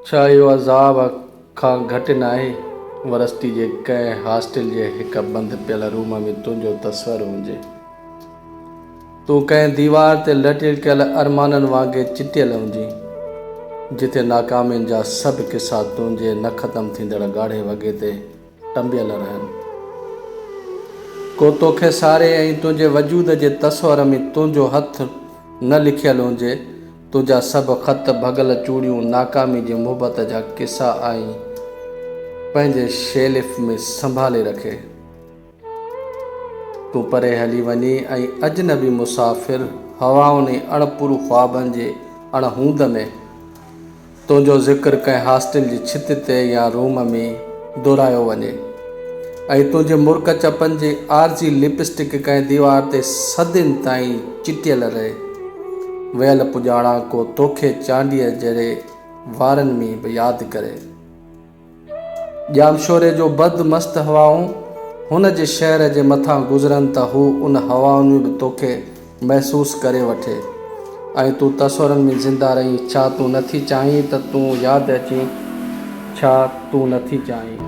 ڇا اهو عذاب کان گهٽ ناهي؟ ورستي جي ڪنهن هاسٽل جي هڪ بند پيل روم ۾ تنهنجو تصور هجي. تون ڪنهن ديوار تي لٽڪيل ارمانن وانگي چٽيل هجين، جتي ناڪامين جا سڀ قصا تنهنجي نه ختم ٿيندڙ ڳاڙهي وڳي تي ٽنبيل رهن ڪو توکي ساري ۽ تنهنجي وجود جي تصور ۾ تنهنجو هٿ نه لکيل هونجي تنهنجا سڀ خط ڀڳل چوڙيون ناڪامي جي محبت جا قصا آئين پنهنجي شيلف ۾ سنڀالي رکي تون پري هلي وڃي ۽ اجنبي مسافر هوائن ۽ اڻپورو خوابن جي اڻهوند ۾ تنهنجو ذڪر ڪنهن هاسٽل جي ڇت تي يا روم ۾ دهرايو وڃي ۽ تنهنجي مرڪ چپن جي عارضي لپسٽڪ ڪنهن ديوار تي صدين تائين چٽيل رهي. ويل پڄاڻان ڪو توکي چانڊيي جهڙي وارن ۾ به ياد ڪري. ڄامشوري جون بد مست هوائون هن جي شهر جي مٿان گذرن ته هو ان هوائن ۾ به توکي محسوس ڪري وٺي ۽ تون تصورن ۾ زنده رهين. ڇا تون نه ٿي چاهين ته تون ياد اچين؟ ڇا تون نه ٿي چاهين؟